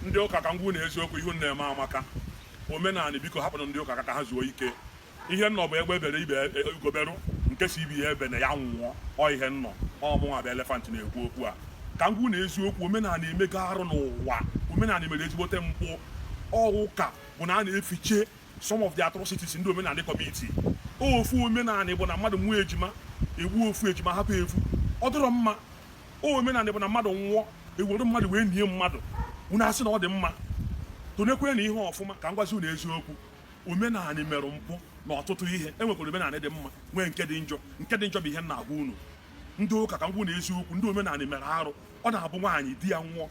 ndị ụka ka m gwa unu eziokwu ihe unu na-eme amaka omenala biko hapụnụ ndị ụka ka ha zuo ike ihe m nọ bụ egbe bere ee, ugo berụ nke sị ibe ya ebena ya nwụọ ọ ihe m nọ ọ mụnwa bụ Elephant na-ekwu okwu a ka m gwa unu eziokwu omenala emego arụ n'ụwa omenala mere ezigbote mpụ ọ ụka bụ na a na-efiche some of the atrocities ndị omenala commit ofu omenala bụ na mmadụ nwee ejima e gbuo ofu ejima hapụ ofu ọ dịrọ mma omenala bụ na mmadụ nwụọ e were mmadụ wee nie mmadụ unu asị na ọ dị mma tụnekwenụ ihe ọfụma ka m gwazi unu eziokwu omenala mere mpụ n'ọtụtụ ihe e nwekwara omenala dị mma nwee nke dị njọ nke dị njọ bụ ihe m na-agwa unu ndị ụka ka m gwa unu eziokwu ndị omenala mere arụ ọ na-abụ nwaanyị di ya nwụọ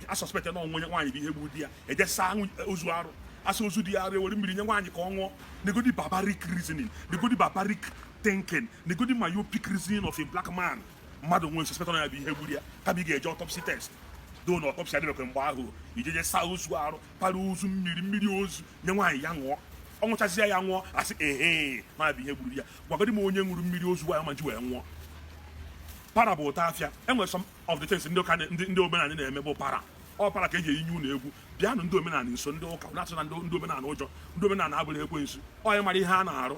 a suspect na ọ bụ onye nwaanyị bụ ihe gburu di ya e je saa ozu arụ a saa ozu di ya arụ e were mmiri nye nwaanyị ka ọ ṅụọ negodi barbaric reasoning negodi barbaric thinking negodi myopic reasoning of a black man mmadụ nwụọ ị suspect na ya bụ ihe gburu ya kama ị ga-eje autopsy test though na autopsy adịbekwe mgbe ahụ i jeje saa ozu arụ para ozu mmiri mmiri ozu nye nwaanyị ya ṅụọ ọ ṅụchazie ya nwụọ a sị ehe na ya bụ ihe gburu ya gwagodi m onye ṅụrụ mmiri ozu ya ma ji wee nwụọ para bụ ụta afịa e nwere some of the things ndị ụka ndị omenala na-eme bụ para ọ para ka e ji eyinye unu egwu bịanụ ndị omenala nso ndị ụka atụna ndị omenala ụjọ ndị omenala abụrọ ekwensu onye mara ihe a na-arụ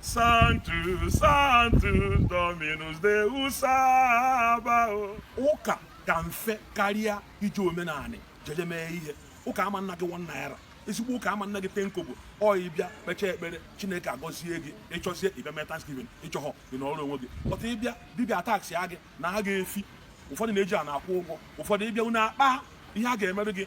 Sanctus, Sanctus, Dominus Deus Sabaoth. Ụka ka mfe karịa iji omenanị jeje mee ihe. Ụka ama ana gị one naira. Ezigbo ụka ama ana gị ten kobo ọ ị bịa kpechaa ekpere Chineke agọzie gị ị chọzie ị bịa mee Thanksgiving ị chọhọ ị nọrọ onwe gị. But ị bịa dibịa taksịa gị naa gị efi ụfọdụ na-eji a na-akwụ ụgwọ ụfọdụ ị bịa unu akpaa ihe a ga-emere gị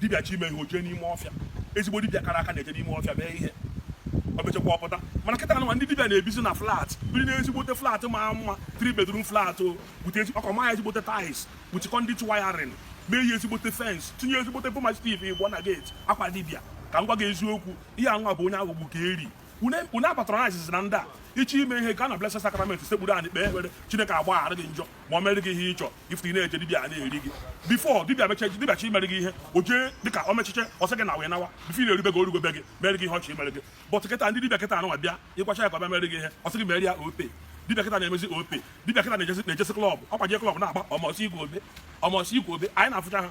dibịa chọọ ime ihe o jee n'ime ọfịa ezigbo dibịa kara aka na-eje n'ime ọfịa mee ihe o mechakwa ọ pụta mana kịta anụnwa ndị dibịa na-ebizi na flat biri na ezigbote flat ma mma three bedroom flat o bute ọkọ maa ya ezigbote tiles bute conduit wiring mee ya ezigbote fence tinye ezigbote bullmastiff ịgbọ na gate ọkwa dibịa ka m gwa gị eziokwu ihe anwa bụ onye aghọgbuo ka e rie unu apatronizezina ndị a ị chọọ ime ihe gaa na blessed sacrament sekpuru anị kpee ekpere chineke agbaghara gị njọ ma o mere gị ihe ị chọ if ị na-eje dibịa na-eri gị before dibịa mecha eji dibịa chọọ imere gị ihe o jee dịka o mechiche ọ sị gị ngwa nawa before ị na-eru be gị o rugo be gị mere gị ihe ọ chọ imere gị but kịta ndị dibịa kịta anụnwa bịa ị gwacha ya ka ọ bịa mere gị ihe ọ sị gị mere ya Opay dibịa kịta na-emezi Opay dibịa kịta na-ejezi na-ejezi club ọkwa jee club na-agba ọmọsị igwe obe ọmọsị igwe obe anyị na-afụcha ha